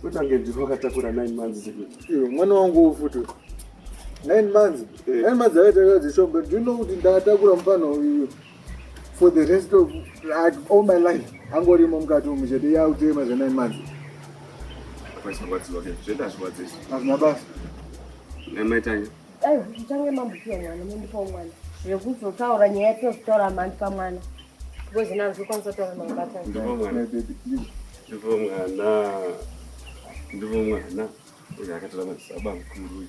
kutange ndiri wakatakura nine months iwe mwana wangu ufuti nine months eh. nine months akatakura dzishombe do you know kuti ndakatakura mufana uyu for the rest of like, all my life angorimo mukati umu chete yautema zve nine months hazvina basa namaitanya dai zvitange mambukiwa mwana mondipawo mwana zvekuzotaura nyaya yatinozotaura mandi pamwana because naro zvokwanisa kutaura mabatana ndipo mwana ndipo mwana ndipo mwana uyo akatora madzisaba mukuru uyu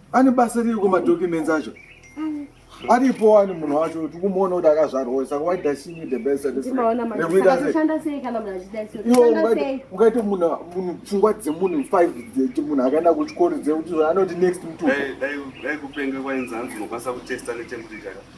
Ane basa riri kumadocuments acho aripo wani munhu wacho tikumuona kuti akazvarwa saka why does she need the best ungaite munhu munhu pfungwa dzemunhu five munhu akaenda kuchikoro dzekuti anoti next mtukupenga kwainzi hanzi unokwanisa kutesta netemperature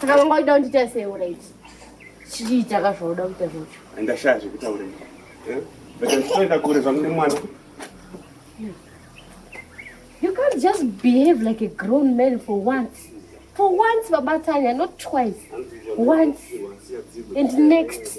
Saka vanga uchida kundiita sei uraiti? Chiita ka zvauda kuita zvacho. Ndashaya zvekutaura izvi. Eh? Beta ndichitoenda kure zvangu nemwana. You can't just behave like a grown man for once. For once, Baba Tanya, not twice. Once. And next.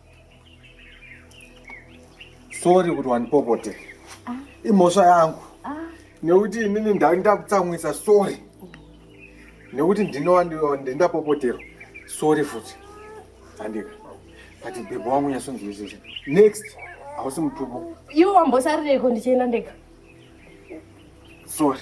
sorry kuti wandipopote ah. imhosva yangu ah. nekuti inini ndakutsamwisa sorry nekuti ndinowandapopoterwa sorry futi andika but bhebho wangu nyasonzwisisa next hausi mutupo iwo wambosarireiko ndichienda ndega sorry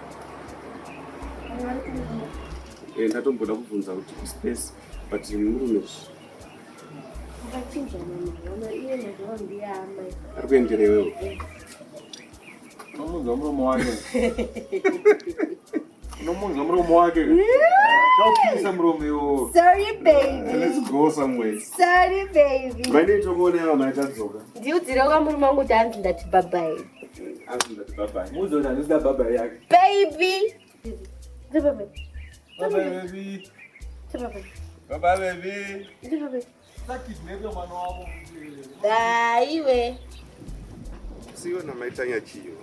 Eh, ndatomboda kubvunza kuti kuspace but murume ari kuendera iwewe unomunza muromo wake unomunza muromo wake chaupisa muromo iwo vanoitwa kuona yavo maitadzoka ndiudzire kwamurume wangu kuti anzi ndati babai Baby. Baba baby. Baba baby. Daiwe. Siyo na maitanya chiyo.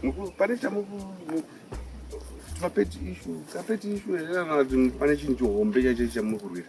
Muku pane chamuku mapeti issue, kapeti issue, pane chinhu chihombe chacho chamukurwira.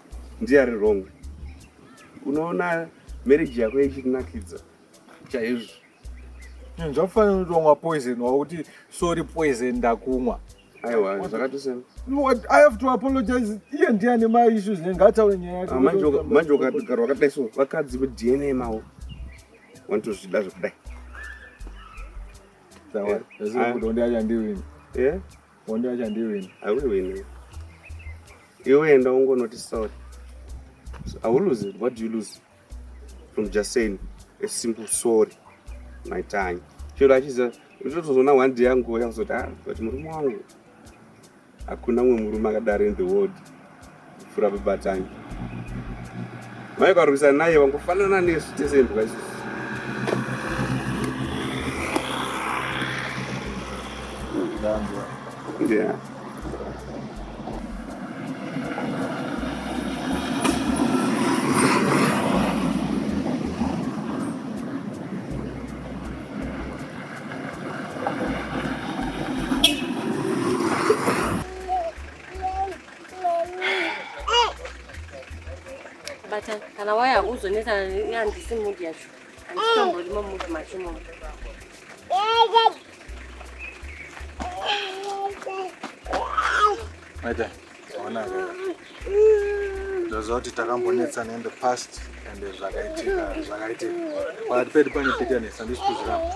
ndiye ari wrong unoona marriage yako ichinakidza chaizvo hmm, zvakufanira kutongwa poison wakuti sorry poison ndakumwa aiwa zvakatosema i have to apologize iye ndiye ane maissues nengataure nyaya yake ah, manje ukagara wakadai so vakadzi vedna mawo wanotozvida zvekudai Yeah. Hondo yacho handiwini. Hauiwini. Iwe enda ungonoti sorry. So, I will lose it. What do you lose? From just saying a simple sorry. My time. Chero achiziva ndotozoona one day yangu yakuzoti ah but murume wangu hakuna umwe murume akadaro in the world. Fura babatanyi. Mai karwisa naye vangofanana nesu tese imbwa isusu. Yeah. But kana waya uzonetsa yandisi mood yacho. Anditombori mu mood macho momo. Maita, ona ka. Ndaziva kuti takambonetsana in the past and zvakaitika zvakaitika. But pedi pane bitterness andisi kuzviramba.